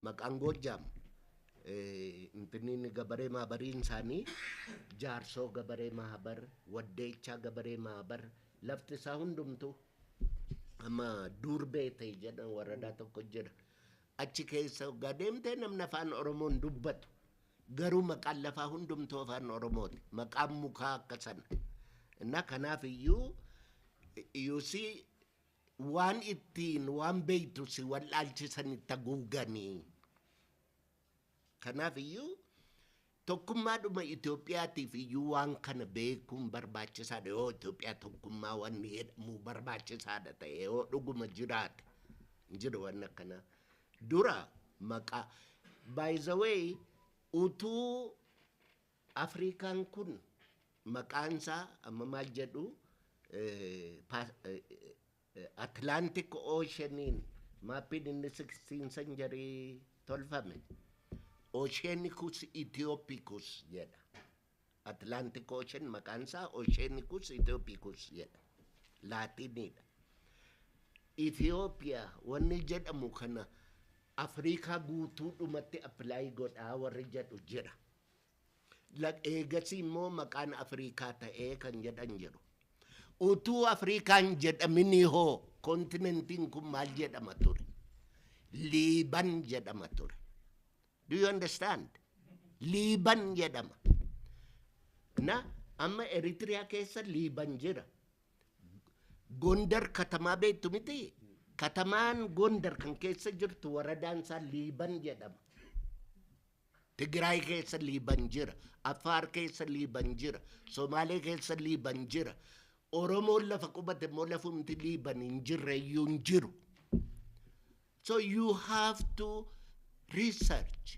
Maqaan Goojjaam Finfinniin Gabaree Maabariin isaanii Jaarsoo Gabaree Maabar, Waddeechaa Gabaree Maabar, lafti isaa hundumtuu amma Duurbee ta'e jedhan waradaa tokko jira. Achi keessa hoggaa deemtee namni afaan Oromoon dubbatu garuu maqaan lafaa hundumtuu afaan Oromooti. Maqaan mukaa akka sana. Innaa kanaaf iyyuu you see Waan ittiin waan beektu si wal'aalchisanitti haguugani. Kanaaf iyyuu tokkummaadhuma Itoophiyaatiif iyyuu waan kana beekuun barbaachisaadha yoo Itoophiyaa tokkummaa wanni jedhamu barbaachisaadha ta'e yoo dhuguma jiraate hin jiru wanni akkana dura maqaa by the way utuu Afriikaan kun maqaan isaa amma maal jedhu Atlantic Oceaniin maappiin inni sixteen century tolfame Oceanicus Ethiopicus jedha. Atlantic Ocean maqaan isaa Oceanicus Ethiopicus jedha. Laatiiniidha. Ethiopia wanni jedhamu kana Afriikaa guutuudhumatti apply godhaa warri jedhu jira. Eegasii immoo maqaan Afriikaa ta'ee kan jedhan jiru. Utuu Afriikaa hin jedhaminii hoo kontinentiin kun maal jedhama ture? Liiban jedhama ture. Do you understand? Liiban jedhama. Na amma Eritiriyaa keessa Liiban jira. Gondar katamaa beektu miti? Katamaan Gondar kan keessa jirtu waradaan isaa Liiban jedhama. Tigiraay keessa Liiban jira, Affaar keessa Liiban jira, Somaalee keessa Liiban jira, Oromoon lafa qubate immoo lafumti Liiban hin jirre iyyuu hin jiru. So you have to research.